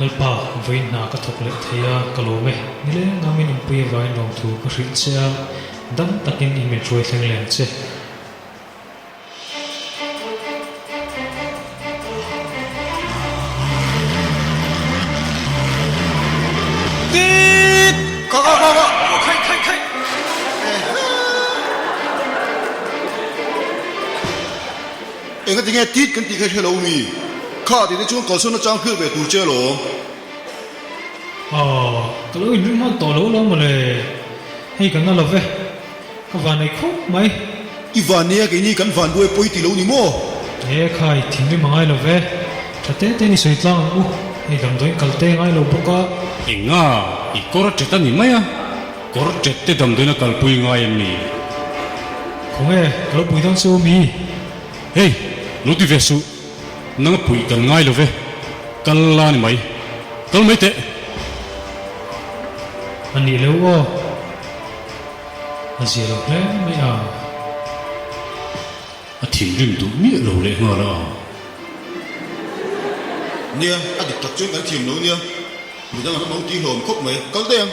Lalpa, vawiin hna ka thawk leh thei a, ka lawm e. Nile ngam in Awmpui a vawiin lawmthu ka hrilh che a, dang takin i hmel hruai thleng lem che. Enga tinge tit kan tih kha hello mi kha tihte chuan kalsawn a chang fiah ve tur che lo. Aw, ka lo inring nghal tawh lo lo mawle, hei ka na love e. Ka van nei khawp mai. I van nei a, keini kan van buai pawi ti lo ni maw? He khai thim em a ngai lo ve. Tha te te'n i sawi tlang ang u, hei damdawiin kal te a ngai lo bawk a. Enga, i kawr a ṭet a ni mai a, kawr ṭet te damdawiin a kalpui ngai em ni? Khaw nge, ka lo pui dawn se u mi. Hei, lo ti ve suh, nang a puih dan ngai lo ve. Kal la ni mai, kal mai teh. A nih leuh aw, a zia lo hle mai a. A thinrim duh miah lo leh nghal a ang. Nia, a dik tak chuan kan thim lo nia, midang an awm ang tih hlawm khawp mai, kal daih ang.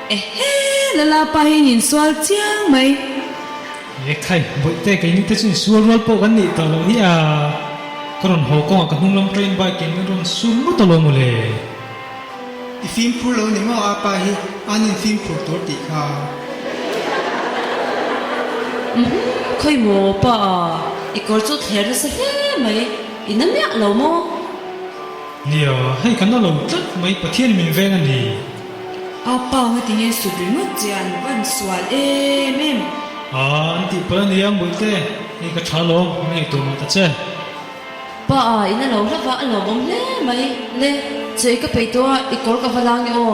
Ehe! Lala pa hi in insual chiang mai. Lehkhai bawih te kei mite chu insual rual pawh kan nih ta lo hi a, ka rawn haw kawngah ka hnunglam train bike in rawn sur lut alo maw le. I fim phur lo ni maw a pa hi an in fim phur tur tih kha. Umhum, khawi maw pa a, i kawr chu thler nasa hle mai, i na miah lo maw? Nia, hei ka na lo tlat mai Pathian min veng a ni. A panga ti nge sut ringawt che an van sual em em. A an tih pawlh a nia Mbuih te, hei ka tha lo ka ngaih tur mah ta che. Pa a in a lo hla va a lawmawm hle mai le. Chei ka peih tawh a, i kawr ka va lang i aw.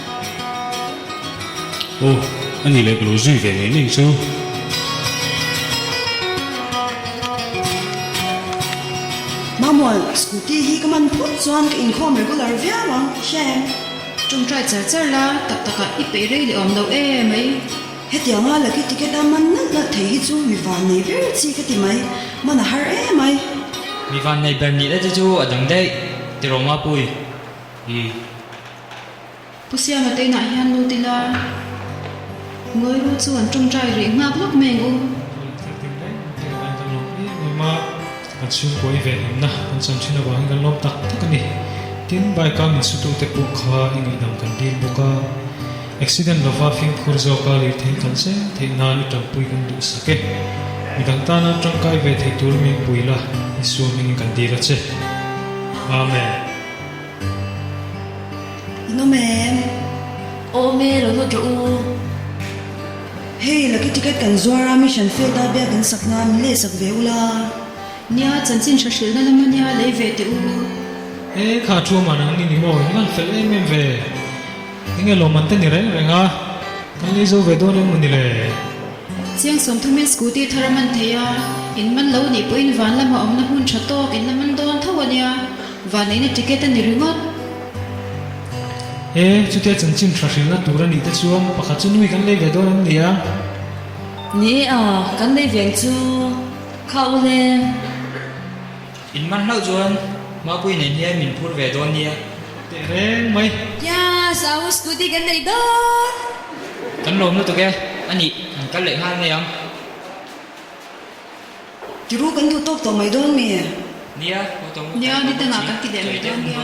Ohh a nih leh ka lo zui ve ngei ngei chu. Mahmual scooty hi ka man phut chuan ka inkhawm regular viau ang ti hiah em. Tawngtai char char la tak tak ah i peih rei leh awm lo em mai. Hetiang a lucky ticket a man nalh nalh thei hi chu mi vannei ber chi ka ti mai. Man a har em mai. Mi vannei ber nih la te chu a dang daih. Tiraw Mapuii. Umm. Pu Siama teinah hian lut ila, Ngawiru chu an ṭawngṭai rih nghak lawk mai ang u. Ngawi tir tir daih ang tih a dan kan lo em em a, kan chhungkawi ve hlimna kan chan ṭhin avangin kan lawm tak tak a ni. Tin, bike a min sutu te pawh kha i ngaihdam kan dil bawk a, accident lova fimkhur zawk a lirthei kan zem theih nan i ṭanpui kan duh sak e. Midang tan an ṭangkai ve thei tur min pui la, Isua hmingin kan dil a che. Amen. I nawm em? Awm e, lo nawt rawh u. Hei, Lucky Ticket kan zuar a, mission failed a, biak in sak na, min leh sak ve u la. Nia, chanchin hra hrilhna lam ania, lei ve teh u. E, kha thu man ang ni ni maw? I ngan fel em em ve. Enge lawmante ni reng reng a, kan lei zo ve dawn em maw ni le? Chiang Sawmthamin scooty thar a man thei a, in man lo nih pawhin van lama awmna hmun tha tawk in a man dawn tho a nia, van eina ticket a ni ringawt. He chutia chanchin thra hrilna tur a nih te chuan pakhat chu nui kan lei ve dawn an ni a. Ni e, a kan lei veng chu khau hle. In man hlauh chuan Mapui nen hian min phur ve dawn nia, teh reng mai. Yes, a u scooty kan neih dawn. Kan lawm lutuk e, a nih an kal leh nghal mai ang. Ti ru kan duh tawk tawh mai dawn mi. Nia, ho tawh ngut, nia, ni tangah kan ti leh mai dawn nia.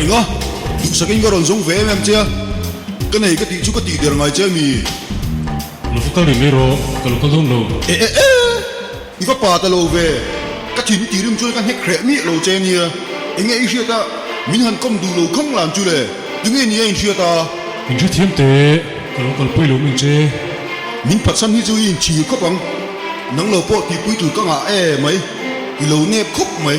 Enga? Duhsak in ka rawn zawng ve em em che a, ka nei ka tih chu ka tih der ngai che a ni. Lufa kal rim erawh ka lufa dun lo. E e e! I va pa ta lo ve, ka thin tih rim chuan ka hnek hreh miah lo che a nia, enge i hriat a, min han kawm duh lo khang lam chu le, tunge nia in hriat a? Min hre thiam teh, ka lo kalpui lo min che. Min phatsan hi chu i in thir khawp ang, nang lo pawh tihpui tur ka ngah e mai, i lo nep khawp mai.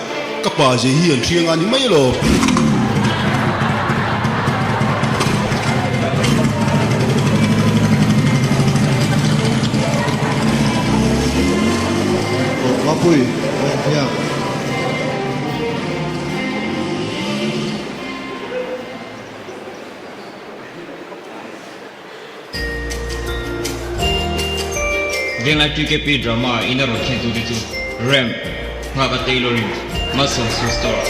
Ka pa zei hi an hriang a ni mai lo. Mapui nen hian Venglai PKP drama ah in a rawn thlen tute chu Rem, Nghaka Tailoring, Muscle Shoe Store.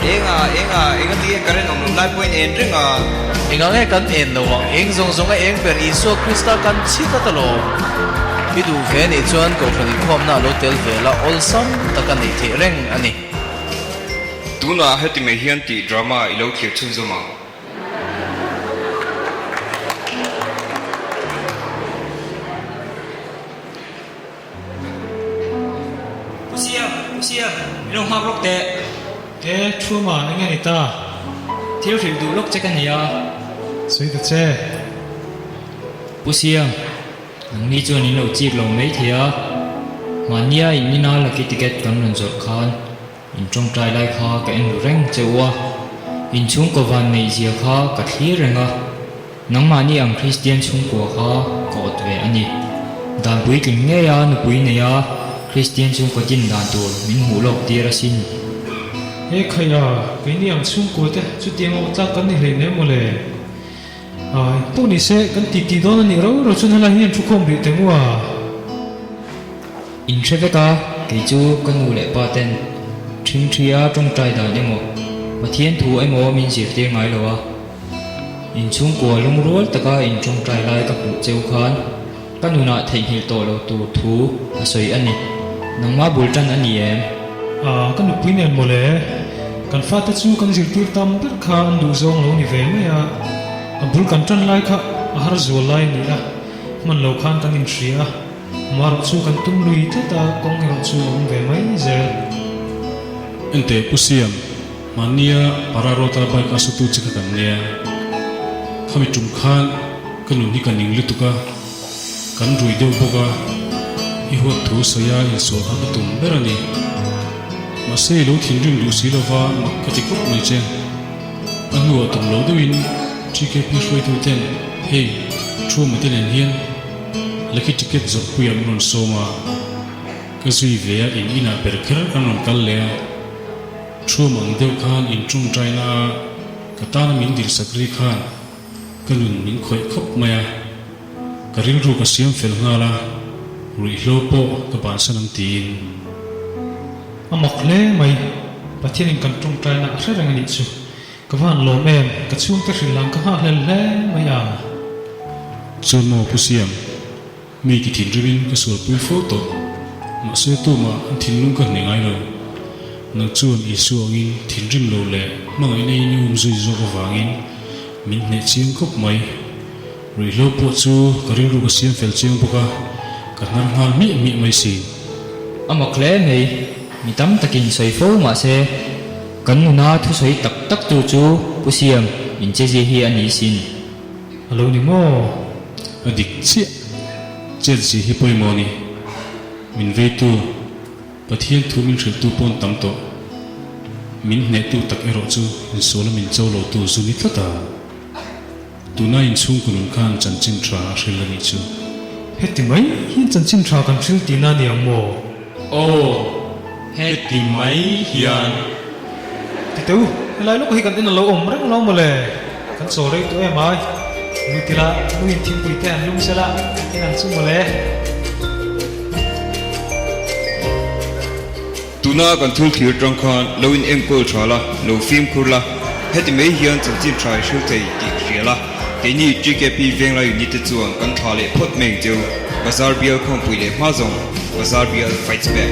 Eng a, eng a, eng a ti e, ka ren awm loh lai pawhin en reng a. Eng ang e, kan en lo ang, eng zawng zawng a eng ber, Isua Krista kan chhi ta ta lawm. I duhve nih chuan kohhran inkhawmna a lo tel vel a, awlsam tak a nei theih reng a ni. Tunah heti mai hian tih drama i lo thlir chhun zawm ang. Pusiam, pusiam, i lo nghak lawk teh. He thu mah eng a ni ta? Thil hrilh duh lawk che ka nia. Sawi ta che. Pusiam. Kan ni chuan in lo chik lo mai thei a, mahnia in ina lucky ticket kan rawn zawrh khan in tawngtai lai kha ka en ru reng che u a, in chhungkaw vannei zia kha ka thlir reng a, nangmahni ang Kristian chhungkua kha ka awt ve a ni. Dan puitling ngei a nupui neia Kristian chhungkaw din dan tur min hmuh lawk tir a sin. He khaia keini ang chhungkua te chutiang lo tlak kan ni hlei hle maw le? Eng pawh ni se, kan titi dawn a nih ro ro chuan helai hian thu khawm rih tengua in hre vek a, kei chu ka nu leh pa ten thing thi a, tawngtai dan emaw, Pathian thu emaw min zirtir ngai lo a, in chhungkua lungrual taka in tawngtai lai ka hmuh cheu khan. Ka nunah theihnghilh tawh lo tur thu a sawi a ni. Nangma bul tan a ni em? Aaa, ka nupui nen maw le? Kan fate chu kan zirtir tam ber kha an duh zawng lo ni ve mai a. A bul kan tan lai kha a har zual lai a ni a, hman lo khan kan inhria a, mah erawh chu kan tum lui tlat a, kawng erawh chu a awm ve mai zel. Enteh pu siam, Mahnia Para Rota bike a sawitu che ka kan nei a, khami tum khan ka nun hi ka ning lutuk a, kan rui deuh bawk a, i huat thu sawiha insawh kha ka tum ber a ni. Mahse i lo thinrim duh si lova mak ka ti kawp mai che. A hnuah tum lo deuhin GKP hruaitu ten hei thu mate nen hian Lucky Ticket zawhpui an rawn sawm a, ka zui ve a in inah per kher an rawn kal leh a. Thu mang deuh khan in ṭung ṭai na a, ka tana min dirsak ri khan ka nun min khawih khawp mai a, ka rilru ka siam fel nghal a, ruihhlo pawh ka bansan ang tiin. A mawk hle mai, Pathian in kan ṭung ṭai na a hre reng a nih chu, ka van lawm em, ka chhungte hrilh lam ka nghah hlel hle mai a. Chu maw pu siam? Mei ti thinrimim ka sualpui fo tawh, mahse Tuma an thinlung ka hne ngailo. Nang chuan Isua awngin thinrim lo leh hmangaihna in i um zui zawk avangin min hneh chiang khawp mai. Ruihhlo pawh chu ka rilru ka siam fel chiang bawk a, ka hnar nghal hmiah hmiah mai sin. A mak hle mai, mi tam takin sawi fo mahse kan nuna thusawi tak tak tu chu Pu Siam inchezia hi a ni sin. A lo ni maw? A dik chiah. Chiat zih hi pawimawh a ni. Min veitu, Pathian thu min hrilhtu pawn tam tawh. Min hnehtu tak erawh chu in sawla min cho lotu zu ni tlata. Tuna inchhungkaw nun khan chanchin tha a hril a nih chu. Heti mai hian chanchin tha kan hrilh tihna a ni ang maw? Aw, heti mai hian. Titeu, helai lawka hi kan en alo awm reng lo mawle. Kan chaw rei tawh em ai. Luitila, Luin thingpui te an lum sel a, kan en ang chu mawle. Tuna kan thul thlir tang khan lo in enkawl tha la, lo fimkhur la, heti mai hian chanchin tha i hrilh thei tih ka hrial a. Keini GKP Venglai Unit te chuan kan thla leh phawt mai chu bazar bial khawmpui leh hma zawng bazar bial fights back.